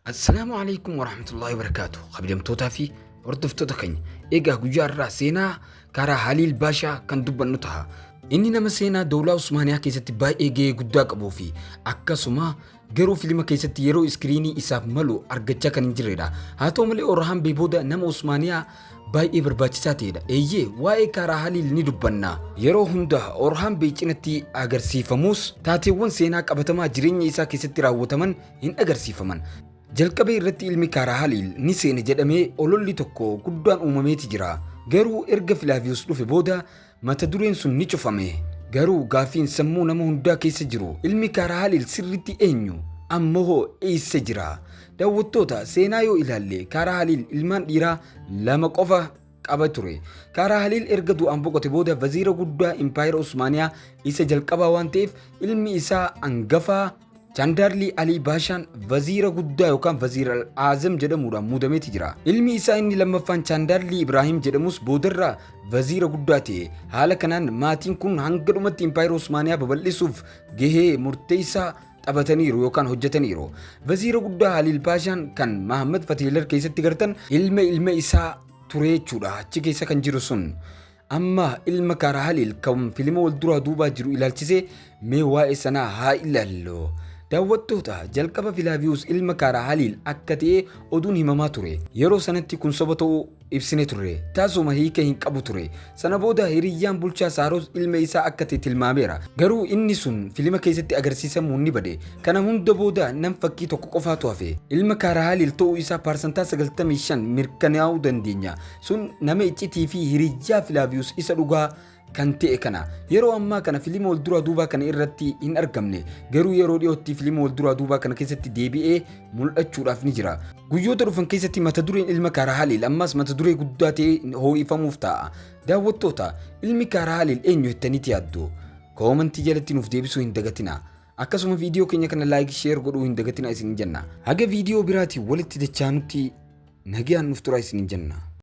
Assalaamu alaikum warahmatullahi wabarakaatu. Kabajamtootaa fi hordoftoota keenya egaa guyyaa irraa seenaa karaa Haliil Baashaa kan dubbannu taha. Inni nama seenaa Dowlaa Usmaaniyaa keessatti baay'ee gahee guddaa qabuu fi akkasuma garuu filima keessatti yeroo iskiriinii isaaf malu argachaa kan hin jirredha. Haa ta'u malee Orhaan Bee booda nama Usmaaniyaa baay'ee barbaachisaa ta'edha. Eeyyee waa'ee Kaaraa Haliil ni dubbanna. Yeroo hunda Orhaan Bee cinatti agarsiifamus taateewwan seenaa qabatamaa jireenya isaa keessatti raawwataman hin agarsiifaman. Jalqabee irratti ilmi Kaaraa Haliil ni seene jedhamee ololli tokko guddaan uumameeti jira. Garuu erga Filaaviyus dhufe booda Mata dureen sun ni cufame. Garuu gaaffiin sammuu nama hundaa keessa jiru ilmi Kaarahaaliil sirriitti eenyu? Amma hoo eessa jira? Daawwattoota seenaa yoo ilaalle Kaarahaaliil ilmaan dhiiraa lama qofa qaba ture. Kaarahaaliil erga du'aan boqote booda vaziira guddaa Impaayera Usmaaniyaa isa jalqabaa waan ta'eef ilmi isaa angafaa Jandarli Alii Baashaan vaziira guddaa yookaan vaziira al-aazam jedhamuudhaan muudameeti jira. Ilmi isaa inni lammaffaan Jandarli Ibraahim jedhamus boodarra vaziira guddaa ta'e. Haala kanaan maatiin kun hanga dhumatti Impaayera Osmaaniyaa babal'isuuf gahee murteessaa taphataniiru yookaan hojjetaniiru. Vaziira guddaa Haliil Paashaan kan Mahammad Fatihilar keessatti gartan ilma ilma isaa ture jechuudha. Achi keessa kan jiru sun. Amma ilma karaa Haliil kan filima wal duraa duubaa jiru ilaalchisee mee waa'ee sanaa haa ilaallu. Daawwattoota jalqaba Filaaviyuus ilma karaa Haliil akka ta'e oduun himamaa ture. Yeroo sanatti kun soba ta'uu ibsine turre. Taasuma hiika hin qabu ture. Sana booda hiriyyaan bulchaa Saaros ilma isaa akka ta'e tilmaameera. Garuu inni sun filima keessatti agarsiisamuun ni bade. Kana hunda booda nam fakkii tokko qofaatu hafe. Ilma karaa Haliil ta'uu isaa parsantaa 95 mirkanaa'uu dandeenya. Sun nama iccitii fi hiriyyaa Filaaviyus isa dhugaa kan ta'e kana. Yeroo ammaa kana filima wal duraa duubaa kana irratti hin argamne. Garuu yeroo dhiyootti filima wal duraa duubaa kana keessatti deebi'ee mul'achuudhaaf ni jira. Guyyoota dhufan keessatti mata dureen ilma Kaarahaalil ammas mata duree guddaa ta'ee hoo'ifamuuf ta'a. Daawwattoota, ilmi Kaarahaalil eenyu jettaniiti yaaddu? Koomantii jalatti nuuf deebisuu hin dagatina. Akkasuma viidiyoo keenya kana laayik sheer godhuu hin dagatina isin jenna. Haga viidiyoo biraatiin walitti dachaanutti nagayaan nuuf tura isin jenna.